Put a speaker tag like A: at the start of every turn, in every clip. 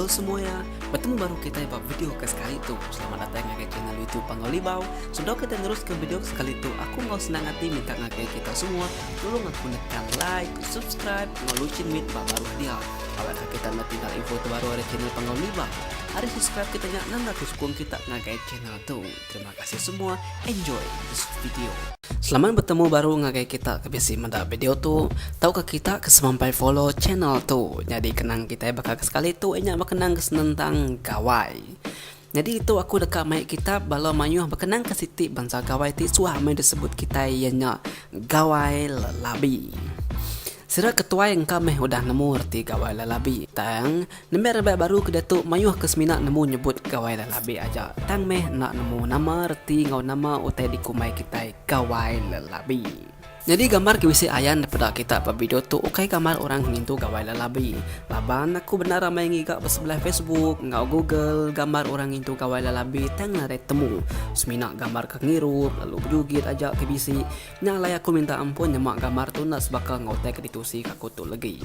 A: Hello semuanya, bertemu baru kita ba video ke sekali tu. Selamat datang ngagai channel YouTube Pangau Libau. Sebelum kita neruskan video ke sekali tu, aku mau senang hati minta ngagai kita semua tolong aku nekan like, subscribe, ngau lucin mit ba baru dia. Awak ke kita nak tinggal info terbaru dari channel Pangau Libau. Hari subscribe kita nya nang aku sukung kita ngagai channel Tu terima kasih semua enjoy this video. Selamat bertemu baru ngagai kita ke bisi meda video tu. Tauka kita ke semampai follow channel tu. Nyadi kenang kitai baka ke sekali tu inya bekenang ke senentang gawai. Nyadi itu aku deka mai kitab bala mayuh bekenang ke siti bansa gawai ti suah amai disebut kitai iya nya gawai lelabi. Sida ke tuai engka meh udah nemu reti Gawai Lalabi. Tang, nembiak rebak baru ke diatu mayuh ke semina nemu nyebut Gawai Lalabi aja tang meh enda nemu nama reti enggau nama utai dikumbai kitai Gawai Lalabi. Nyadi gambar ke bisi ayan dipeda kita ba video tu ukai gambar orang ngintu Gawai Lalabi. Laban aku bendar ramai ngiga ba sebelah Facebook enggau Google gambar orang ngintu Gawai Lalabi tang nadai temu. Semina gambar ke ngirup lalu bejugit aja ke bisi. Nya alai aku minta ampun nyema gambar tu enda sebaka enggau utai ke ditusi ka aku tu legi.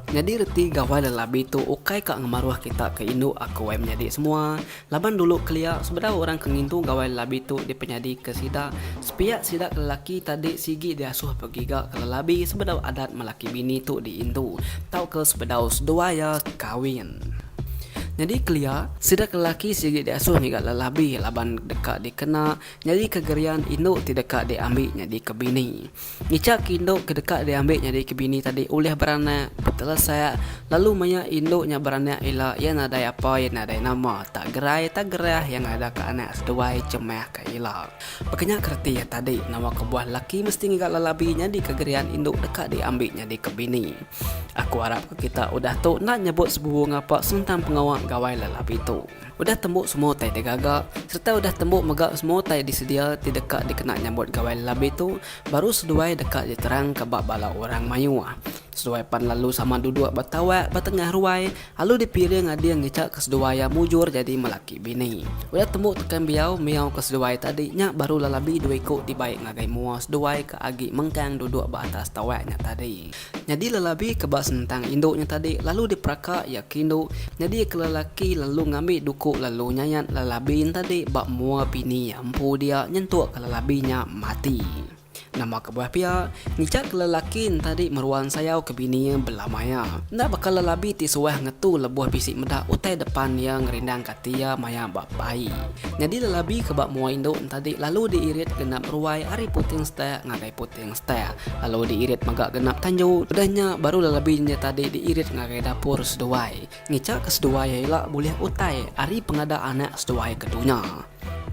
A: Nyadi reti gawai lelabi tu ukai ka ngemaruh kita ke indu aku ai menyadi semua laban dulu kelia sebedau orang ke ngintu gawai lelabi tu dipenyadi ke sida sepiak sida ke lelaki tadi sigi diasuh begiga ke lelabi sebedau adat melaki bini tu diindu tauka sebedau seduai iya kawin nyadi kelia sida ke lelaki sigi diasuh ngiga lelabi laban deka dikena. Nyadika Gerian indu ti deka diambi nyadika bini. Ngichak indu ke deka diambi nyadika bini tadi ulih beranak, betelesak, lalu maya indu nya beranak ila iya nadai apa iya nadai nama, tak gerai tak gerah iya ngadaka anak seduai chemahka ila. Baka nya ke reti iya tadi, nama kebuah lelaki mesti ngiga lelabi nyadika Gerian indu deka diambi nyadika bini. Aku arapka kita udah tu enda nyebut sebubu ngapa senentang pengawa gawai lelabi tu. Udah tembu semua utai digaga sereta udah tembu mega semua utai disedia ti deka dikena nyambut gawai lelabi tu, baru seduai deka diterangka ba bala orang mayuh. Seduai pan lalu sama duduk ba tawak ba tengah ruai, lalu dipiring ading ngicaka seduai iya mujur jadi melaki bini. Udah tembu tekan biau miauka seduai tadi nya baru lelabi dua iku ti baik ngagai mua seduai ke agi mengkang duduk ba atas tawak nya tadi. Nyadi lelabi ke ba senentang indu nya tadi lalu diperaka iya ke indu nyadi ke lelaki lalu ngambi duku lalu nyayat lelabi nya tadi ba mua bini iya empu dia nyentuk ke lelabi nya mati. Nama kebuah pia, ngicak ke lelaki nya tadi meruan sayau ke bini iya bela maya. Enda baka lelabi ti suah ngetu lebuh bisi meda utai depan iya ngerindangka ati iya maya ba bai. Nyadi lelabi ke ba mua indu nya tadi lalu diirit genap ruai ari puting setak ngagai puting. Teng style lalu diirit mega genap tanju. Udah nya baru lalabi nya tadi diirit ngagai dapur seduai. Ngicha ke seduai iya ila bulih utai ari pengada anak seduai ke tu nya.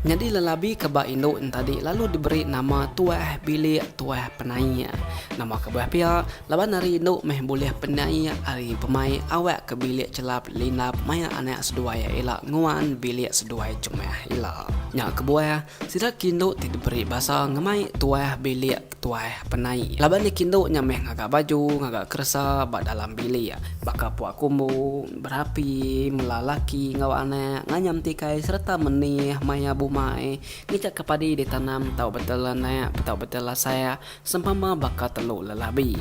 A: Nyadi lalabi ke ba indu ntadi lalu diberi nama Tuah Bilik Tuah Penaik. Nama kebuah pia Laban ari indu meh bulih penai ari pemai awak ke bilik chelap lindap maya anak seduai ila nguan bilik seduai chemah ila. Nya kebuah, sida kindu ti diberi basa ngemai tuah bilik tuah penai. Laban iya kindu nya meh ngaga baju, ngaga keresa ba dalam bilik, baka puak kumbu, berapi, mela laki enggau anak, nganyam tikai sereta menih maya bumai, ngejaka padi ditanam tau betel anak, tau betel lasak, Sempama baka telu lelabi.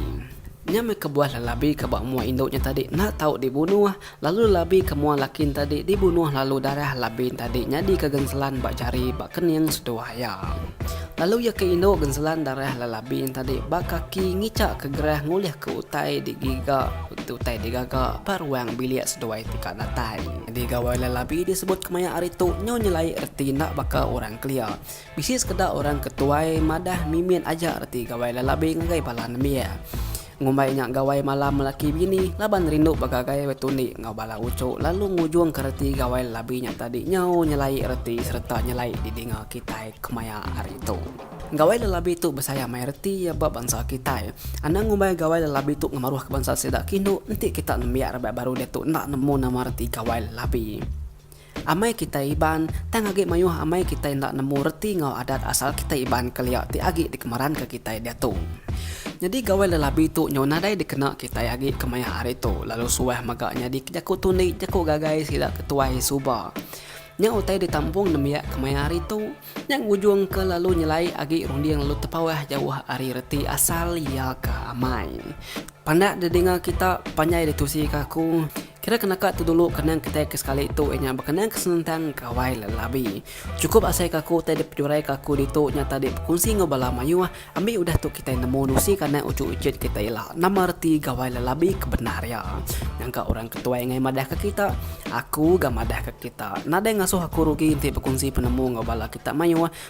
A: Nya meh kebuah lelabi ke ba mua indu nya tadi enda tau dibunuh, lalu lelabi ke mua laki nya tadi dibunuh lalu darah labi nya tadi nyadi ke genselan ba jari ba kening seduai iya. Lalu iya ke indu genselan darah lelabi nya tadi ba kaki ngichak ke gerah ngulih ke utai digiga utai digaga ba ruang bilik seduai ti ka datai. Nyadi gawai lelabi disebut kemaya ari tu nyau nyelai reti enda baka orang kelia. Bisi sekeda orang ke tuai madah mimit aja reti gawai lalabi ngagai bala nembiak. Ngumbai nya gawai malam lelaki bini laban rindu begagai betundi enggau bala uchu lalu ngujungka reti gawai lalabi nya tadi nyau nyelai reti sereta nyelai didinga kitai kemaya hari tu. Gawai lalabi tu besaya mai reti iya ba bansa kitai. Anang ngumbai gawai lalabi tu ngemaruhka bansa sida ke indu enti kita nembiak raban baru diatu enda nemu nama reti gawai lalabi. Amai kitai Iban, tang agi mayuh amai kitai enda nemu reti enggau adat asal kitai Iban kelia ti agi dikemeranka kitai diatu. Nyadi gawa lelabi tu nyau nadai dikena kitai agi kemaya hari tu lalu suah mega nyadi jaku tundi, jaku gagai sida ke tuai suba. Nya utai ditampung nembiak kemaya hari tu. Nya ngujungka lalu nyelai agi runding lalu tepauh jauh ari reti asal iya ke amai. Pandak didinga kita, panjai ditusika aku. Kira ke naka tu dulu kenang kitai ke sekali tu iya nya bekenang ke senentang gawai lelabi. Chukup asai ke aku utai dipejurai ke aku ditu nya tadi bekunsi enggau bala mayuh ambi udah tu kitai nemu nusi kanak uchu ichet kitai ila nama reti gawai lelabi ke bendar iya. Nyangka orang ke tuai angai madah ke kita, aku ga madah ke kita. Nadai ngasuh aku rugi enti bekunsi penemu enggau bala kita mayuh